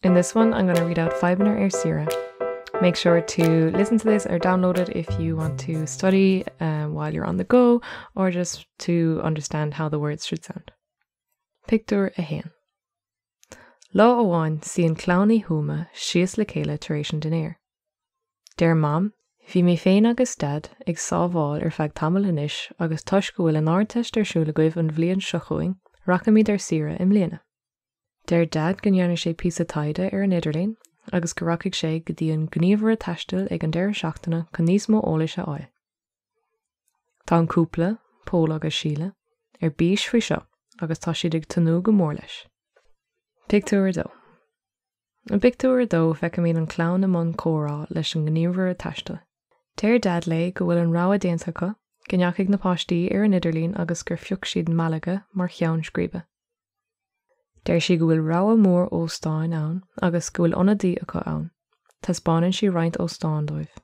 In this one I'm going to read out Fadhbanna ar Saoire. Make sure to listen to this or download it if you want to study um, while you're on the go or just to understand how the words should sound. Pictiúr a haon. Lá amháin suíonn clann Uí Thuama síos le chéile tar éis an dinéir. Deir mam, bhí mé féin agus Daid ag sábháil ar feadh tamaill anois agus toisc go bhfuil an ardteist ar siúl agaibh an bhliain seo chugainn, rachaimid ar saoire i mbliana. Deir Daid go ndéanfaidh sé píosa taighde ar an idirlíon agus go rachaidh sé go dtí an gníomhaire taistil ag an deireadh seachtaine chun níos mó eolais a fháil. Tá an cúpla, Pól agus Síle, ar bís faoi seo agus tá siad ag tnúth go mór leis. Pictiúr 2 I bpictiúr a dó feicimid an chlann i mbun comhrá leis an ngníomhaire taistil. Deir Daid léi go bhfuil an rogha déanta acu, go ndeachaigh na páistí ar an idirlíon agus gur phioc siad Malaga mar cheann scríbe. Deir sí go bhfuil rogha mór óstáin ann agus go bhfuil ionadaí acu ann. Taispeánann sí roinnt óstán dóibh.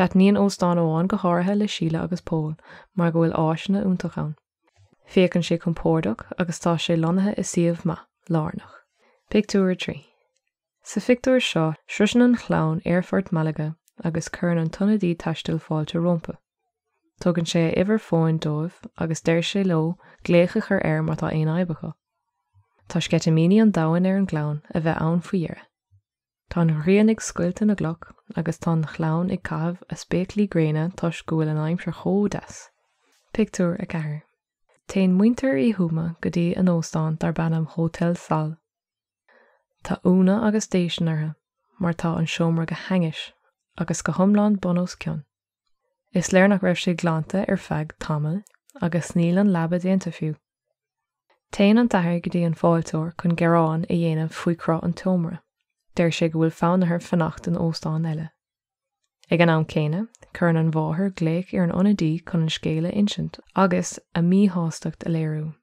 Taitníonn óstán amháin go háirithe le Síle agus Pól mar go bhfuil áiseanna iontacha ann. Féachann sé compordach agus tá sé lonnaithe i suíomh maith, lárnach. Pictiúr 3. Sa phictiúr seo, sroiseann an chlann aerfort Malaga agus cuireann an t-ionadaí taistil fáilte rompu. Tugann sé a uimhir fóin dóibh agus deir sé leo glaoch a chur air má tá aon fhadhb acu. Tá sceitimíní an domhain ar an gclann a bheith ann faoi dheireadh. Tá an ghrian ag scoilteadh na gcloch agus tá an chlann ag caitheamh a spéaclaí gréine toisc go bhfuil an aimsir chomh deas. Pictiúr 4 Téann muintir Uí Thuama go dtí a n-óstán darb ainm Hotel Sol. Tá ionadh agus déistin orthu mar tá an seomra go hainnis agus go hiomlán bun os cionn. Is léir nach raibh sé glanta ar feadh tamaill agus níl an leaba déanta fiú. Téann an t-athair go dtí an fáilteoir chun gearán a dhéanamh faoi chruth an tseomra. Deir sé go bhfuil fonn orthu fanacht in óstán eile. Ag an am céanna, cuireann an mháthair glaoch ar an ionadaí chun an scéal a insint agus a míshástacht a léiriú.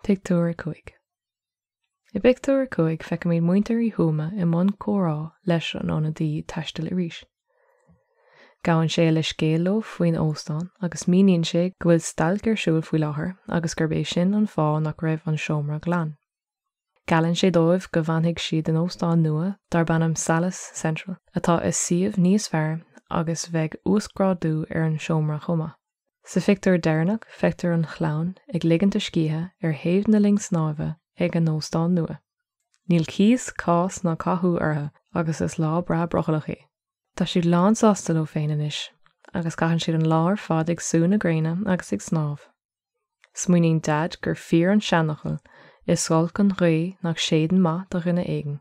Pictiúr 5. I bpictiúr a cúig feicimid muintir Uí Thuama i mbun comhrá leis an ionadaí taistil arís. Gabhann sé leithscéal leo faoin óstán agus míníonn sé go bhfuil stailc ar siúl faoi láthair agus gurb é sin an fáth nach raibh an seomra glan. Geallann sé dóibh go bhfanfaidh siad in óstán nua darb ainm Salles Central atá i suíomh níos fearr agus bheidh uasghrádú ar an seomra chomh maith. Sa phictiúr deireanach feictear an chlann ag ligint a scíthe ar thaobh na linne snámha ag a n-óstán nua. Níl cíos, cás ná cathú orthu agus is lá breá brothallach é. Tá siad lánsásta leo féin anois agus caitheann siad an lá ar fad ag sú na gréine agus ag snámh. Smaoiníonn Daid gur fíor an seanfhocal, 'Is olc an ghaoth nach séideann maith do dhuine éigin'.